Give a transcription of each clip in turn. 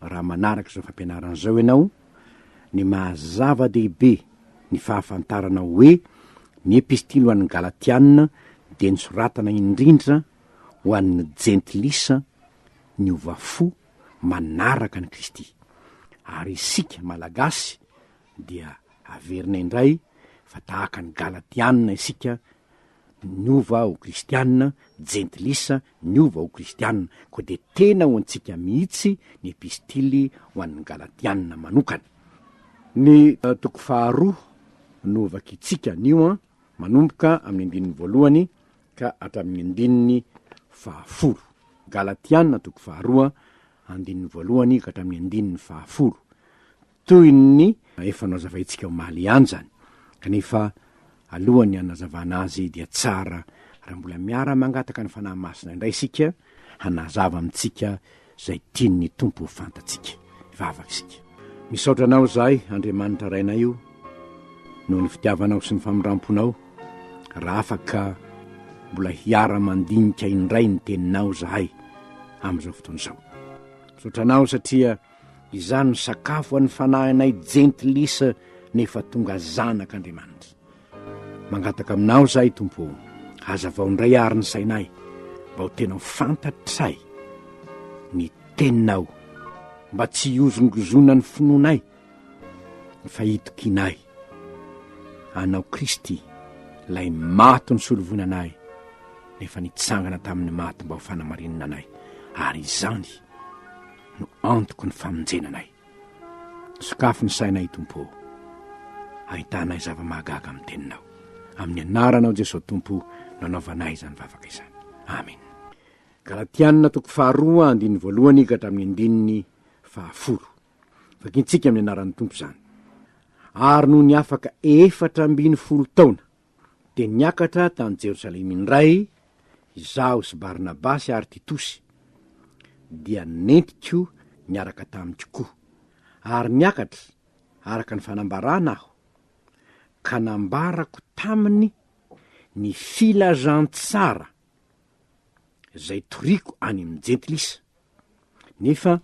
raha manaraka izao fampianarana izao ianao, ny maha zava-dehibe ny fahafantarana hoe ny Epistily ho an'ny Galatiana dia nosoratana indrindra ho an'ny Jentilisa niova fo manaraka an'i Kristy. Ary isika Malagasy dia averina indray fa tahaka ny Galatiana isika Niova ho kristianina, jentilisa, niova ho kristianina, koa dia tena ho antsika mihitsy ny epistily ho an'ny Galatianina manokana. Ny toko faharoa no hovakintsika anio an, manomboka amin'ny andininy voalohany ka hatramin'ny andininy fahafolo. Galatianina toko faharoa, andininy voalohany ka hatramin'ny andininy fahafolo. Toy ny efa nozavaintsika omaly ihany izany, kanefa alohan'ny hanazavana azy dia tsara raha mbola miara-mangataka ny Fanahy Masina indray isika hanazava amintsika izay tian'ny Tompo ho fantatsika. Hivavaka isika. Misaotra Anao izahay, Andriamanitra Rainay o, noho ny fitiavanao sy ny famindram-ponao, raha afaka mbola hiara-mandinika indray ny Teninao izahay amin'izao fotoana izao. Misaotra Anao satria, Izany no sakafo an'ny fanahinay jentilisa nefa tonga zanak' Andriamanitra. Mangataka aminao izahay, Tompo ô, hazavao indray àry ny sainay, mba ho tena ho fantatray ny Teninao, mba tsy hihozongozona ny finoanay, fa hitokianay Anao Kristy, Ilay maty nisolo voina anay, nefa nitsangana tamin'ny maty mba ho fanamarinana anay, ary izany no antoky ny famonjena anay. Sokafy ny sainay, Tompo ô. Ahitanay zava-mahagaga amin'ny teninao. Amin'ny anaranao Jesosy Tompo no anaovanay izany vavaka izany. Amen. Galatiana toko faharoa andininy voalohany ka hatramin'ny andininy fahafolo. Vakintsika amin'ny anaran'ny Tompo izany. Ary nony afaka efatra ambin'ny folo taona, dia niakatra tany Jerosalema indray izaho sy Barnabasy ary Titosy, dia nentiko niaraka tamiko koa. Ary niakatra araka ny fanambarana aho, ka nambarako taminy ny filazantsara izay toriako any amin'ny Jentilisa, nefa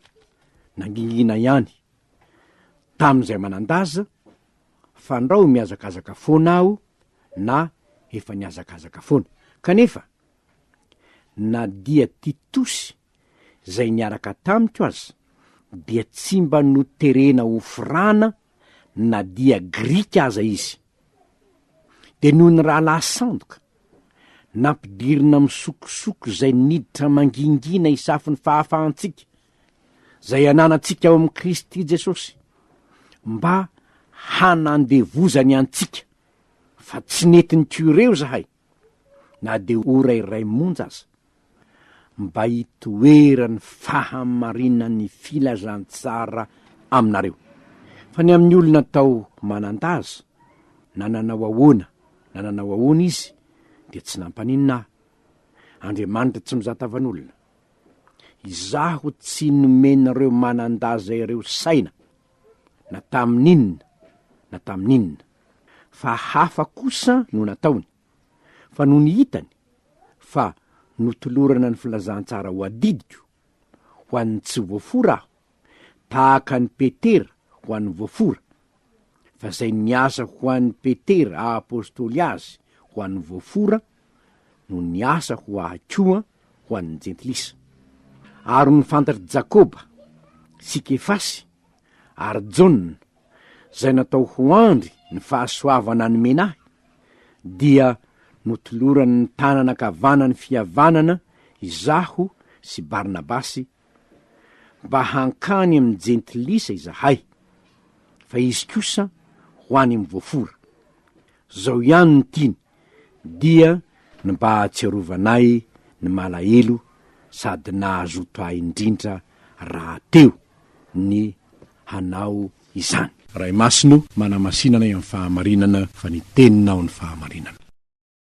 nangingina ihany tamin'izay manan-daza, fandrao mihazakazaka foana aho na efa nihazakazaka foana. Kanefa, na dia Titosy izay niaraka tamiko aza, dia tsy mba noterena ho firana na dia Grika aza izy. Dia noho ny rahalahy sandoka, nampidirina amin'ny sokosoko izay niditra mangingina hisafo ny fahafahantsika, izay ananantsika ao amin'i Kristy Jesosy mba hanandevozany antsika, fa tsy nety nikioreo izahay, na dia ora iray monja aza, mba hitoeran'ny fahamarinan'ny filazantsara aminareo. Fa ny amin'ny olona atao manan-daza, na nanao ahoana na nanao ahoana izy, dia tsy nampaninona ahy. Andriamanitra tsy mizatavan'olona. Izaho tsy nomen'ireo manan-daza ireo saina, na tamin'inona na tamin'inona, fa hafa kosa no nataony, fa nony hitany fa notolorana ny filazantsara ho adidiko, ho an'ny tsy voafora aho, tahaka an'i Petera ho an'ny voafora, fa izay niasa ho an'i Petera aha-apostoly azy ho an'ny voafora no niasa ho ahy koa ho an'ny jentilisa. Ary ny fantatr'i Jakoba, sy Kefasy, ary Jaona, izay natao ho andry ny fahasoavana nomena ahy, dia notoloran'ny tanana ankavanan'ny fihavanana izaho sy Barnabasy mba hankany amin'ny jentilisa izahay, fa izy kosa ho any amin'ny voafora. Izao ihany no tiany, dia ny mba hahatsiarovanay ny malahelo sady nahazoto ahy indrindra rahateo ny hanao izany. Ray Masina o, manamasina anay amin'ny fahamarinana, fa ny Teninao no fahamarinana.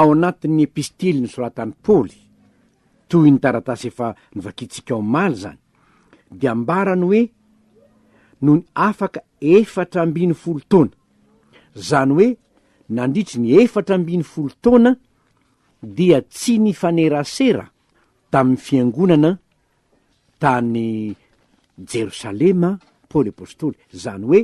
Ao anatin'ny epistily nosoratan'i Paoly, toy ny taratasy efa novakintsika omaly izany, dia ambarany hoe nony afaka efatra ambin'ny folo taona, Izany hoe nandritry ny efatra ambin'ny folo taona dia tsy nifanerasera tamin'ny fiangonana tany Jerosalema Paoly Apostoly. Izany hoe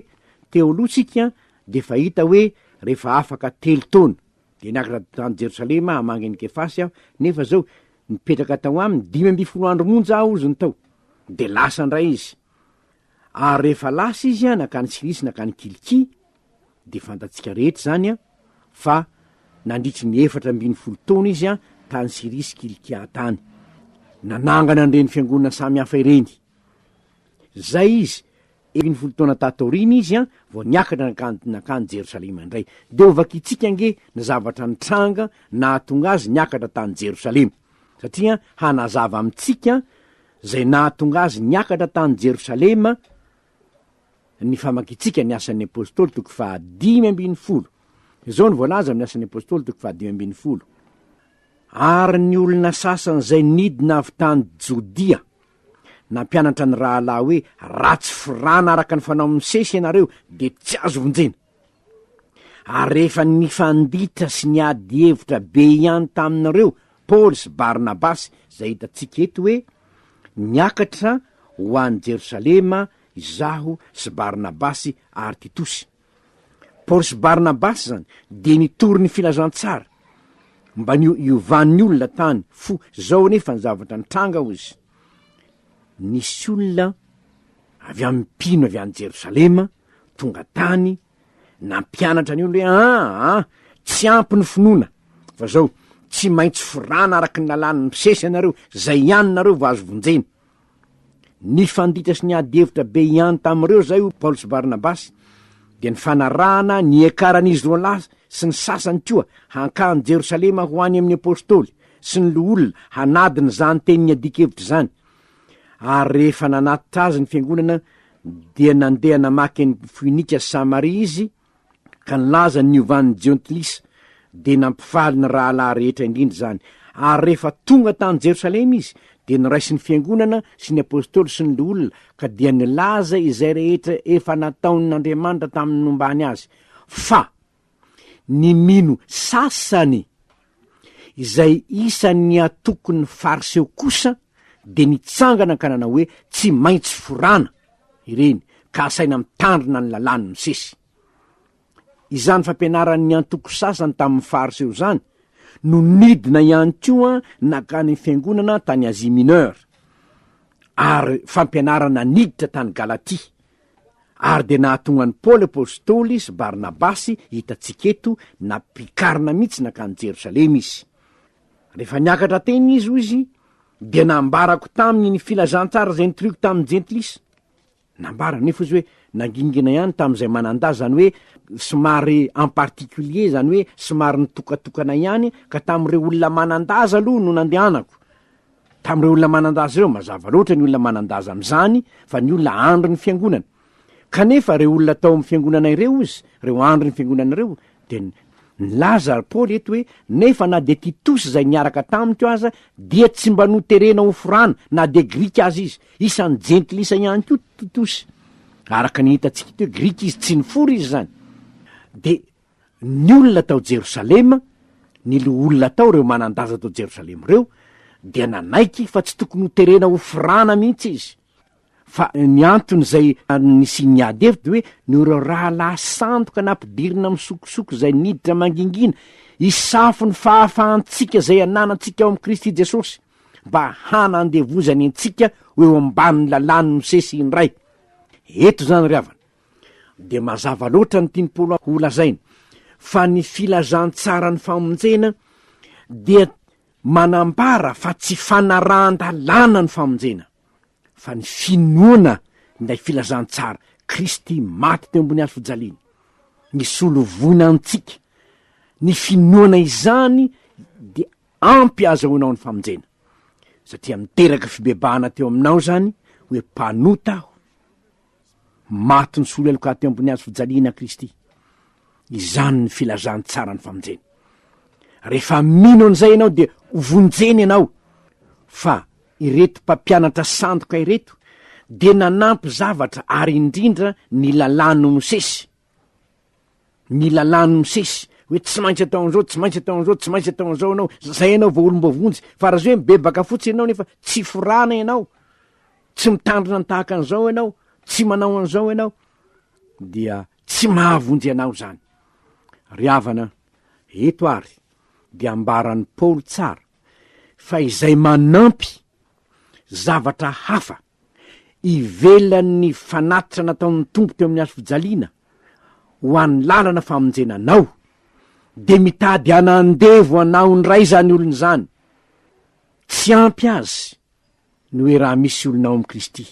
teo aloha tsika dia efa hita hoe rehefa afaka telo taona dia niakatra tany Jerosalema hamangy an'i Kefasy aho nefa izao nipetraka tao aminy dimy ambin'ny folo andro monja aho hozy ny tao dia lasa indray izy. Ary rehefa lasa izy an, nankany Silisy nankany Kilikia, dia fantatsika rehetra izany an, fa nandritry ny efatra ambin'ny folo taona izy an, tany Siria sy Kilikia tany. Nanangana an'ireny fiangonana samy hafa ireny. Izay izy, ambin'ny folo taona tato aoriana izy an, vao niakatra nankany, nankany Jerosalema indray. Dia hovakintsika ange ny zavatra nitranga nahatonga azy niakatra tany Jerosalema, satria hanazava amintsika Izay nahatonga azy niakatra tany Jerosalema Ny famakintsika ny Asan'ny Apôstôly toko faha dimy ambin'ny folo. Izao no voalaza amin'ny Asan'ny Apôstôly toko faha dimy ambin'ny folo, Ary ny olona sasany izay nidina avy tany Jodia nampianatra ny rahalahy hoe, Raha tsy firana araka ny fanaon'i Mosesy ianareo, dia tsy azo vonjena. Ary rehefa nifanditra sy niady hevitra be ihany tamin'ireo Paoly sy Barnabasy, izay hitantsika eto hoe, Niakatra ho any Jerosalema izaho sy Barnabasy ary Titosy. Paoly sy Barnabasy izany dia nitory ny filazantsara mba ny hiovan'ny olona tany fo zao anefa ny zavatra nitranga hozy nisy olona avy amin'ny mpino avy any Jerosalema tonga tany nampianatra an'io le aa tsy ampy ny finoana fa zao tsy maintsy forana araky ny lalàn'ny mpisesy ianareo zay ihany nareo vao azo vonjena ny fandita sy ny ady hevitra be ihany tamin'ireo zay o paoly sy barnabasy de ny fanarahana ny ekaran'izy roa lahy sy ny sasany koa hankany jerosalema ho any amin'ny apôstôly sy ny loholona hanadina izany tenin'ny adikevitra izany ary rehefa nanatitra azy ny fiangonana Dia nandeha namaky an'i Foinika sy Samaria izy, ka nilaza ny niovan'ny Jentilisa, dia nampifaly ny rahalahy rehetra indrindra izany. Ary rehefa tonga tany Jerosalema izy, dia niraisin'ny fiangonana sy ny apostoly sy ny loholona, ka dia nilaza izay rehetra efa nataon'Andriamanitra tamin'ny nombany azy, fa. ny mino sasany, izay isan'ny antokon'ny Fariseo kosa dia nitsangana ka nanao hoe, Tsy maintsy forana ireny, ka asaina mitandrina ny lalàn'i Mosesy. Izany fampianaran'ny antoko sasany tamin'ny Fariseo izany no nidina ihany koa nankany fiangonana tany Asie Mineure, ary fampianarana niditra tany Galatia, ary dia nahatonga an'i Paoly apostoly sy Barnabasy hitantsika eto nampikarina mihitsy nankany Jerosalema izy. Rehefa niakatra teny izy, hoy izy, dia nambarako taminy ny filazantsara izay nitoriako tamin'ny jentilisa. Nambara nefa izy hoe nangingina ihany tamin'izay manan-dahy, izany hoe somary en particulier, izany hoe somary nitokatokana ihany, ka tamin'ireo olona manan-dahy izy aloha no nandehanako. Tamin'ireo olona manan-daza ireo, mazava loatra ny olona manan-daza amin'izany fa ny olona andry ny fiangonana. Kanefa ireo olona tao amin'ny fiangonana ireo, hozy, ireo andry ny fiangonana ireo, dia nilaza ry Paoly eto hoe, Nefa na dia Titosy izay niaraka tamiko aza, dia tsy mba noterena ho forana, na dia Grika aza izy. Isan'ny Jentilisa ihany koa Titosy. Araka ny hitantsika eto hoe Grika izy, tsy nifory izy izany. Dia ny olona tao Jerosalema, ny loholona tao, ireo manan-daza tao Jerosalema ireo, dia nanaiky fa tsy tokony hoterena hofrana mihitsy izy. Fa ny antony izay nisian'ny ady hevitra dia hoe noho ireo rahalahy sandoka nampidirina amin'ny sokosoko izay niditra mangingina hisafo ny fahafahantsika izay ananantsika ao amin'i Kristy Jesosy, mba hanandevozany antsika ho eo ambanin'ny lalàn'i Mosesy indray. Eto izany ry havana. dia mazava loatra ny tian'i Paoly ho lazaina, fa ny filazantsaran'ny famonjena dia manambara fa tsy fanarahan-dalàna ny famonjena, fa ny finoana ilay filazantsara, Kristy maty teo ambony hazofijaliana, nisolo voina antsika, ny finoana izany dia ampy ahazahoanao ny famonjena, satria niteraka fibebahana teo aminao izany hoe mpanota aho. Maty nisolo heloka teo ambony hazo fijaliana Kristy. Izany ny filazantsaran'ny famonjena. Rehefa mino an'izay ianao dia hovonjena ianao. Fa ireto mpampianatra sandoka ireto dia nanampy zavatra ary indrindra ny lalàn'i Mosesy. ny lalàn'ny Mosesy, hoe tsy maintsy atao an'izao, tsy maintsy atao an'izao, tsy maintsy atao an'izao ianao, izay ianao vao olom-boavonjy. Fa raha izao hoe mibebaka fotsiny ianao nefa tsy forana ianao, tsy mitandrina ny tahaka an'izao ianao, tsy manao an'izao ianao, dia tsy mahavonjy anao izany. Ry havana, eto àry dia ambaran'i Paoly tsara fa izay manampy zavatra hafa ivelan'ny fanatitra nataon'ny Tompo teo amin'ny hazo fijaliana ho an'ny lalana famonjena anao, dia mitady anandevo anao indray izany olona izany. Tsy ampy azy ny hoe raha misy olona ao amin'i Kristy,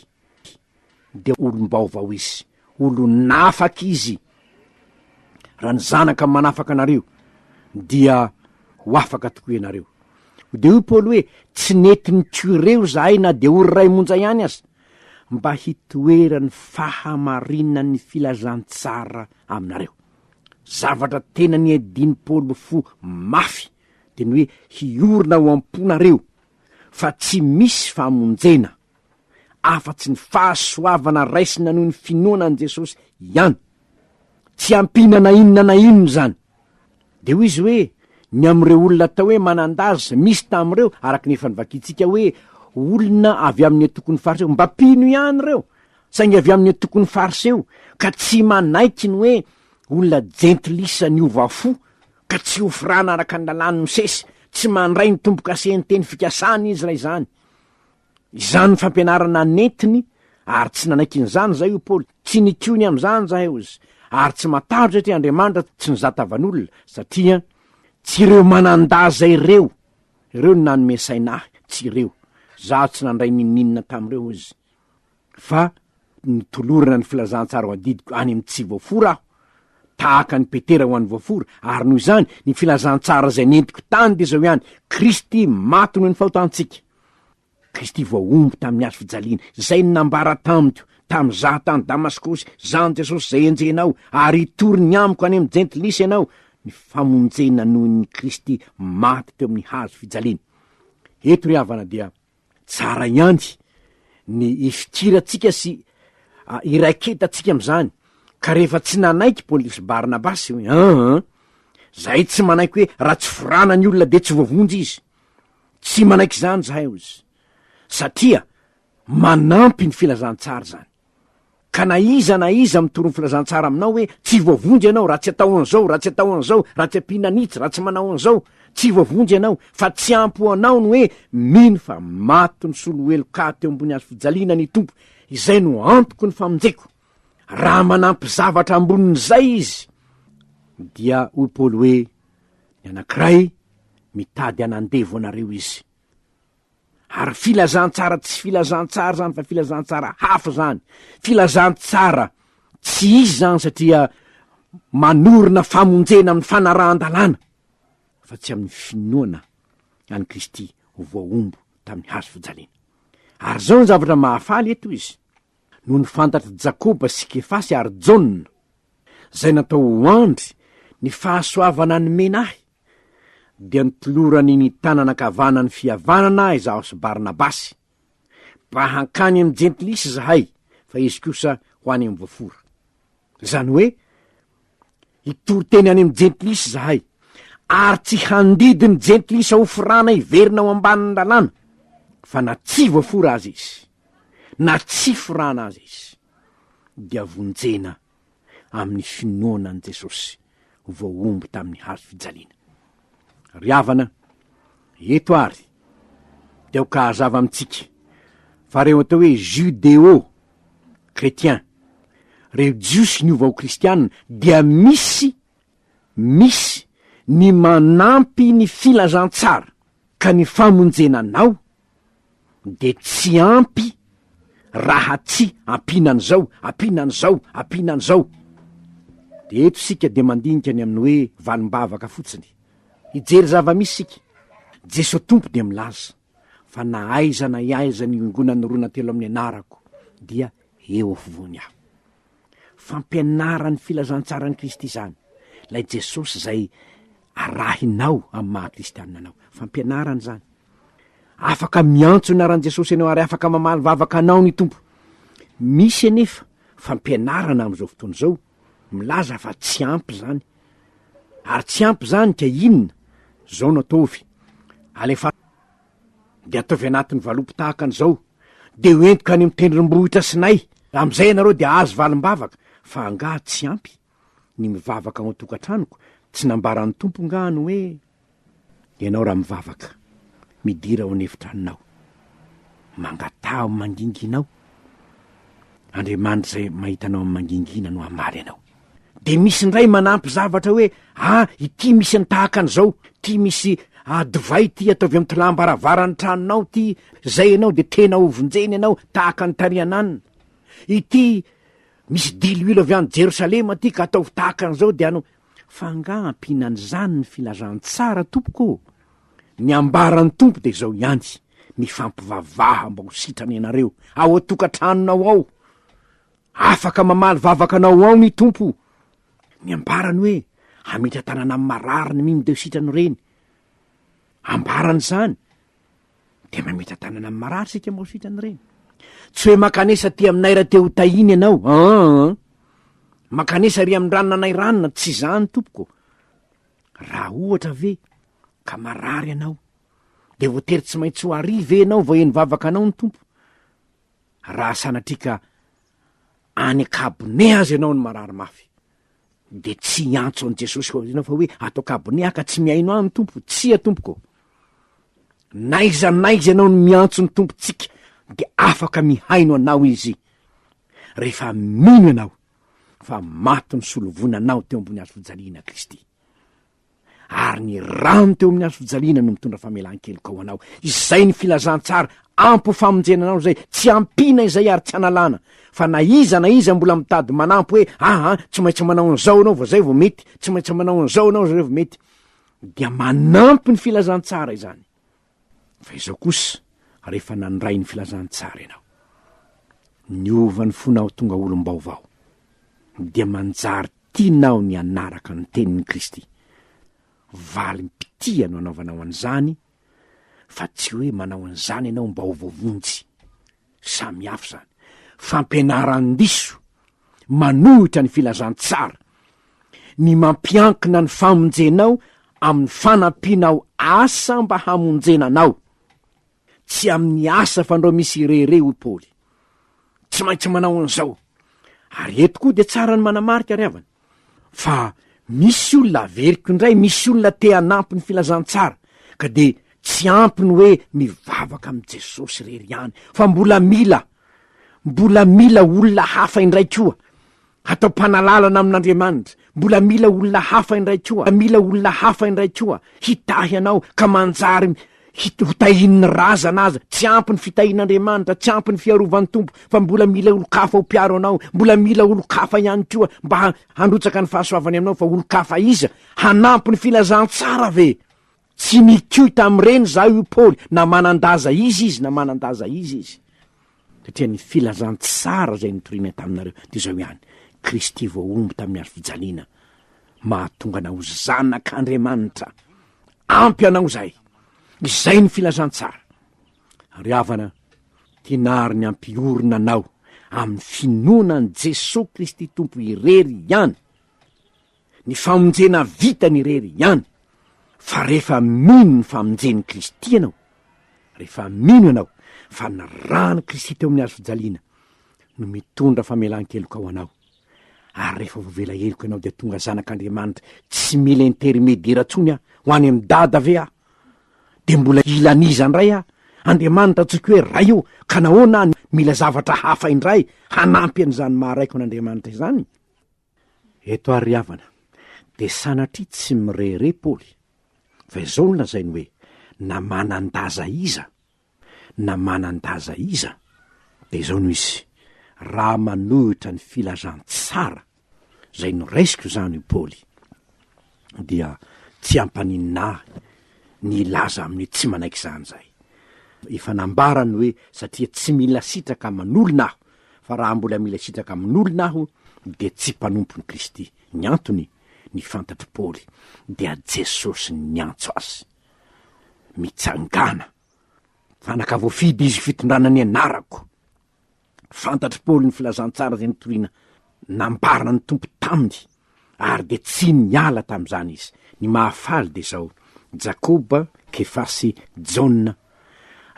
dia olom-baovao izy. olon'afaka izy, raha ny zanaka manafaka anareo dia ho afaka tokoa ianareo. Dia hoy Paoly hoe, tsy nety nitiorew zahay na dia ho ray monja ihany aza, mba hitoeran'ny fahamarinan'ny filazantsara aminareo. Zavatra tena niadian'i Paoly ho fo mafy dia ny hoe hiorina ao am-ponareo fa tsy misy famonjena afa-tsy ny fahasoavana raisina noho ny finoana an'i Jesosy ihany. Tsy ampiana na inona na inona izany. Dia hoy izy hoe, ny amin'ireo olona atao hoe manan-daza, misy tamin'ireo, araka ny efa novakintsika hoe, olona avy amin'ny antokon'ny Fariseo, mba mpino ihany ireo, saingy avy amin'ny antokon'ny Fariseo, ka tsy manaiky ny hoe olona jentilisa niova fo, ka tsy hofrana araka ny lalàn'i Mosesy, tsy mandray ny tombo-kase ny teny fikasany izy raha izany. Izany ny fampianarana nentiny ary tsy nanaiky an'izany izahay, hoy Paoly. Tsy nitiony amin'izany izahay, hoy izy, ary tsy matahotra satria Andriamanitra tsy nizata vanolona, satria tsy ireo manan-daza ireo ireo no nanome saina ahy, tsy ireo. Izaho tsy nandray n'inon'inona tamin'ireo, hoy izy. fa notolorana ny filazantsara ho adidiko any amin'ny tsy voafora aho, tahaka an'i Petera ho an'ny voafora, ary noho izany, ny filazantsara izay nentiko tany dia izao ihany, Kristy maty noho ny fahotantsika. Kristy voahombo tamin'ny hazo fijaliana, izay no nambara tamiko, tamin'izaho tany Damaskosy, Zany Jesosy izay enjehinao, ary hitory ny amiko any amin'ny Jentilisa ianao, ny famonjena noho ny Kristy maty teo amin'ny hazo fijaliana. Eto ry havana dia Tsara ihany ny ifikirantsika sy iraiketantsika amin'izany, ka rehefa tsy nanaiky Paolisy Barnabasy hoe aa, zahay tsy manaiky hoe raha tsy forana ny olona dia tsy voavonjy izy. Tsy manaiky izany zahay, hoy izy, satria manampy ny filazantsara izany. Ka na iza na iza mitory ny filazantsara aminao hoe tsy voavonjy ianao, raha tsy atao an'izao, raha tsy atao an'izao, raha tsy ampiana an'itsy, raha tsy manao an'izao, tsy voavonjy ianao, fa tsy ampy ho anao ny hoe mino fa maty nisolo heloka ahy teo ambony hazofijaliana ny Tompo, izay no antoko ny famonjeko. Raha manampy zavatra ambonin'izay izy, dia hoy Paoly hoe, Ny anankiray mitady hanandevo anareo izy. Ary filazantsara tsy filazantsara zany fa filazantsara hafa zany, filazantsara tsy izy zany satria manorina famonjena amin'ny fanarahan-dalàna fa tsy amin'ny finoana an'i Kristy ho voahombo tamin'ny hazo fijaliana. Ary zao ny zavatra mahafaly eto izy, no ny fantatr'i Jakoba sy Kefasy ary Jaona, zay natao ho andry ny fahasoavana nomena ahy, dia notolorany ny tanana ankavanany fihavanana izaho sy Barnabasy, mba hankany amin'ny jentilisa izahay, fa izy kosa ho any amin'ny voafora. Izany hoe, hitory teny any amin'ny jentilisa izahay, ary tsy handidy ny jentilisa ho forana hiverina ao ambanin'ny lalàna, fa na tsy voafora aza izy, na tsy forana aza izy, dia vonjena amin'ny finoana an'i Jesosy voahombo tamin'ny hazo fijaliana. Ry havana, eto àry dia aoka hazava amintsika fa ireo atao hoe Judéo chrétiens, ireo Jiosy niova ho Kristiana, dia misy Misy ny manampy ny filazantsara ka ny famonjena anao dia tsy ampy raha tsy ampiana an'izao, ampiana an'izao, ampiana an'izao. Dia eto isika dia mandinika ny amin'ny hoe valim-bavaka fotsiny. Hijery zava-misy isika. Jeso Tompo dia milaza. fa na aiza na aiza niongonan'ny rona telo amin'ny anarako dia eo afovoany aho. Fampianaran'ny filazantsaran'i Kristy izany, ilay Jesosy izay arahinao amin'ny maha kristianina anao. Fampianarana izany. Afaka miantso ny anaran'i Jesosy ianao ary afaka mamaly vavaka anao ny Tompo. Misy anefa fampianarana amin'izao fotoana izao milaza fa tsy ampy zany, ary tsy ampy zany ka inona? zao no ataovy, alefa de ataovy anatin'ny valopy tahaka an'izao, de ho entiko any amin'ny tendrombohitra sinay, am'izay ianareo de ahazo valim-bavaka, fa angaha tsy ampy? ny mivavaka ao an-tokantranoko, tsy nambaran'ny Tompo ngaha ny hoe Ianao raha mivavaka, midira ao an'efitranonao, mangataha manginginao, Andriamanitra izay mahita anao amin'ny mangingina no hamaly anao. Dia misy indray manampy zavatra hoe, ah, ity misy ny tahaka an'izao, ity misy ah, divay ity ataovy amin'ny tolàm-baravaran'ny tranonao ity, izay ianao dia tena hovonjeny ianao tahaka ny tarihananina. Ity misy diloilo avy any Jerosalema ity ka ataovy tahaka an'izao dia ano, Fa angaha ampiana an'izany ny filazantsara tompoko ô? Ny ambaran'ny Tompo dia izao ihany, mifampivavaha mba ho sitrana ianareo ao an-tokantranonao ao. Afaka mamaly vavaka anao ao ny Tompo. Ny ambarany hoe hametra-tanana amin'ny marary ny mino dia ho sitrana ireny. Ambarany izany. Dia mametra-tanana amin'ny marary isika moa sitra an'ireny. Tsy hoe makanesa aty aminay raha te ho tahina ianao. Aa! Makanesa ry amin'ny ranona anay ranona, tsy izany tompoko. Raha ohatra ve ka marary ianao, dia voatery tsy maintsy ho àry ve ianao vao heno vavaka anao ny Tompo? Raha sanatria ka any an-kabone aza ianao no marary mafy, dia tsy hiantso an'i Jesosy koa ianao fa hoe ato an-kabone aho ka tsy mihaino ahy ny Tompo, tsia tompoko. N'aiza n'aiza ianao no miantso ny Tompontsika dia afaka mihaino anao Izy rehefa mino ianao fa maty ny solovonanao teo ambony hazofijaliana Kristy. ary ny rano teo amin'ny hazo fijaliana no mitondra famelan-keloka ho anao. Izay ny filazantsara ampy ho famonjena anao izay, tsy ampiana izay ary tsy analana. Fa na iza na iza mbola mitady manampy hoe, aha, tsy maintsy manao an'izao ianao vao izay vao mety, tsy maintsy manao an'izao ianao izay vao mety, dia manampy ny filazantsara izany. Fa izao kosa, rehefa nandray ny filazantsara ianao, niova ny fonao tonga olom-baovao, dia manjary tianao ny hanaraka ny tenin'i Kristy. Valim-pitia no anaovanao an'izany, fa tsy hoe manao an'izany ianao mba ho voavonjy. Samy hafa izany. Fampianaran-diso, manohitra ny filazantsara. Ny mampiankina ny famonjenao amin'ny fanampianao asa mba hamonjena anao. Tsy amin'ny asa fandrao misy irere, hoy Paoly. Tsy maintsy manao an'izao. Ary eto koa dia tsara ny manamarika, ry havana, fa misy olona averiko indray, misy olona te hanampy ny filazantsara, ka dia tsy ampy ny hoe mivavaka amin'i Jesosy irery ihany, fa mbola mila, mbola mila olona hafa indray koa hatao mpanalalana amin'Andriamanitra, mbola mila olona hafa indray koa, mila olona hafa indray koa hitahy anao ka manjary Hotahian'ny razana aza, tsy ampy ny fitahian'Andriamanitra, tsy ampy ny fiarovan'ny Tompo, fa mbola mila olon-kafa ho mpiaro anao, mbola mila olon-kafa ihany koa mba handrotsaka ny fahasoavany aminao, fa olon-kafa iza? Hanampy ny filazantsara ve? Tsy nikoy tamin'ireny izaho, hoy Paoly, na manan-daza iza izy na manan-daza iza izy. Satria ny filazantsara izay nitorianay taminareo dia izao ihany, Kristy voahombo tamin'ny hazo fijaliana, mahatonga anao zanak'Andriamanitra. Ampy anao izay. Izay ny filazantsara. Ry havana, tinary ny hampiorina anao amin'ny finoana an'i Jesoa Kristy Tompo irery ihany Ny famonjena vitany irery ihany, fa rehefa mino ny famonjen'i Kristy ianao, rehefa mino ianao fa ny ran'i Kristy teo amin'ny hazo fijaliana no mitondra famelan-keloka ho anao, ary rehefa voavela heloka ianao dia tonga zanak'Andriamanitra tsy mila intermediera intsony aho ho any amin'i Dada ve aho? Dia mbola hilan'iza indray aho? Andriamanitra antsoiko hoe Ray io, ka nahoana aho mila zavatra hafa indray hanampy an'izany maha-Raiko an'Andriamanitra izany? Eto àry ry havana, dia sanatria tsy mirehareha Paoly, fa izao no lazainy hoe, Na manan-daza iza, na manan-daza iza, dia izao no izy, raha manohitra ny filazantsara izay noraisiko izany hoy Paoly, dia tsy hampaninona ahy ny hilaza aminy hoe tsy manaiky izany izahay. Efa nambarany hoe satria tsy mila sitraka aman'olona aho, fa raha mbola mila sitraka amin'olona aho, dia tsy mpanompon'i Kristy. Ny antony, ny fantatr'i Paoly, dia Jesosy niantso azy. Mitsangàna, fanaka voafidy izy fitondrana ny anarako. Fantatr'i Paoly ny filazantsara izay nitoriana nambarana ny Tompo taminy, ary dia tsy niala tamin'izany izy. Ny mahafaly dia izao, Jakoba, Kefa sy Jaona,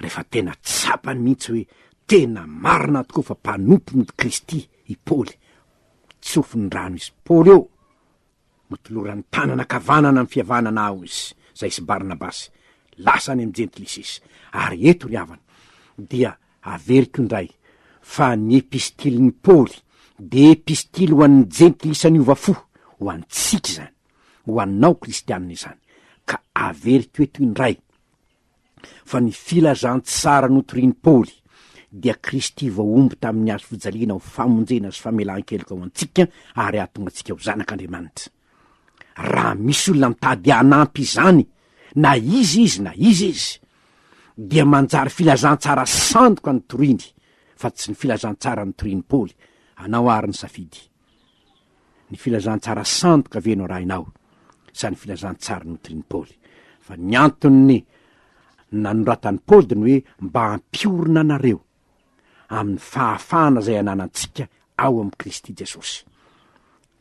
rehefa tena tsapany mihitsy hoe tena marina tokoa fa mpanompon'i Kristy i Paoly, tsofin'ny rano izy. Paoly ô! Motoloran'ny tanana ankavanana ny fiavahana nahaho izy, izay sy Barnabasy, lasa any amin'ny Jentilisiss. Ary eto, ry havana, dia averiko indray, fa ny Epistilin'i Paoly dia Epistily ho an'ny Jentilisa niova fo, ho antsika izany, ho anao Kristiana izany. Ka averiko eto indray, fa ny filazantsara notorian'i Paoly dia Kristy voahombo tamin'ny hazo fijaliana ho famonjena sy famelan-keloka ho antsika ary hahatonga antsika ho zanak'Andriamanitra. Raha misy olona mitady hanampy izany, na iza izy na iza izy, dia manjary filazantsara sandoka notoriany fa tsy ny filazantsara notorian'i Paoly, anao ary ny safidy. Ny filazantsara sandoka ve no arahinao sa ny filazantsara notorin'i Paoly? Fa ny anton'ny nanoratan'i Paoly dia ny hoe mba hampiorina anareo amin'ny fahafahana izay ananantsika ao amin'i Kristy Jesosy.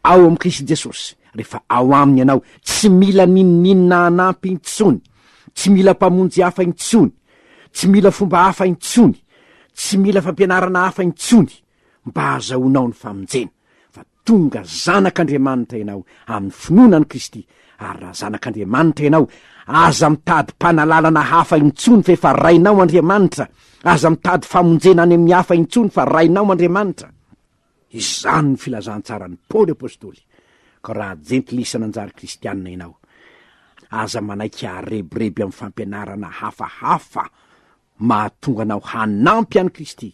Ao amin'i Kristy Jesosy, rehefa ao aminy ianao, tsy mila n'inon'inona hanampy intsony, tsy mila mpamonjy hafa intsony, tsy mila fomba hafa intsony, tsy mila fampianarana hafa intsony. mba hahazahoanao ny famonjena, fa tonga zanak'Andriamanitra ianao amin'ny finoana an'i Kristy, ary raha zanak'Andriamanitra ianao, aza mitady mpanalalana hafa intsony f'efa rainao Andriamanitra, aza mitady famonjena any amin'ny hafa intsony fa rainao Andriamanitra. Izany no filazantsaran'i Paoly apostoly, ka raha jentilisa nanjary kristianina ianao, aza manaiky haharebireby amin'ny fampianarana hafahafa, mahatonga anao hanampy an'i Kristy,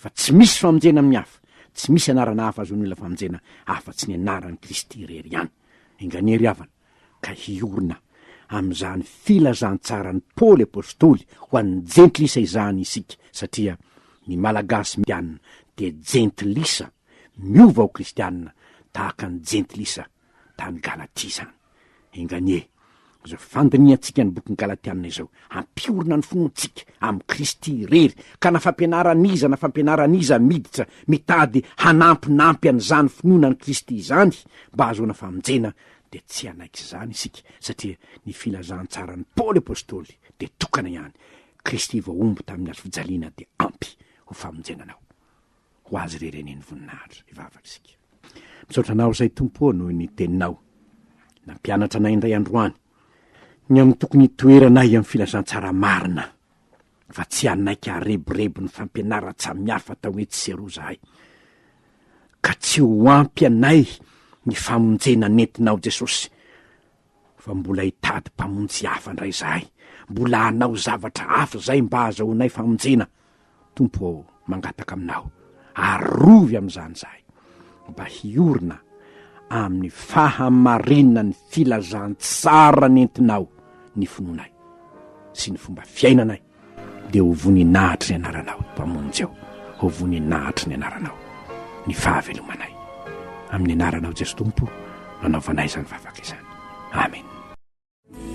fa tsy misy famonjena amin'ny hafa, tsy misy anarana hafa azon'ny olona famonjena afa-tsy ny anaran'i Kristy irery ihany. Enganery havana ka hiorina amin'izany filazantsaran'i Paoly apostoly ho an'ny jentilisa izany isika, satria ny Malagasy miana dia jentilisa miova ho kristiana tahaka ny jentilisa tany Galatia izany. Enga anie, izao fandinihantsika ny bokin'ny Galatiana izao, hampiorina ny finoantsika amin'i Kristy irery, ka na fampianaran'iza na fampianaran'iza miditra mitady hanampinampy an'izany finoana an'i Kristy izany mba hahazoana famonjena, dia tsy hanaiky izany isika, satria ny filazantsaran'i Paoly apostoly dia tokana ihany, Kristy voahombo tamin'ny hazofijaliana dia ampy ho famonjena anao. ho azy irery anie ny voninahitra. Hivavaka isika. Misaotra Anao izay Tompo ô noho ny Teninao. Nampianatra anay indray androany ny amin'ny tokony hitoeranay amin'ny filazantsara marina fa tsy hanaiky hareborebo ny fampianaran-tsamihafa tao etsy sy eroa zahay ka tsy ho ampy anay ny famonjena nentinao Jesosy. Fa mbola hitady mpamonjy hafa indray izahay, mbola hanao zavatra hafa izay mba hahazahoanay famonjena. Tompo ô, mangataka aminao, arovy amin'izany izahay, mba hiorina amin'ny fahamarinan'ny filazantsara nentinao ny finoanay sy ny fomba fiainanay. Dia ho voninahitry ny anaranao, Mpamonjy ô, ho voninahitry ny anaranao ny fahavelomanay. Amin'ny anaranao Jeso Tompo no anaovanay izany vavaka izany. Amena.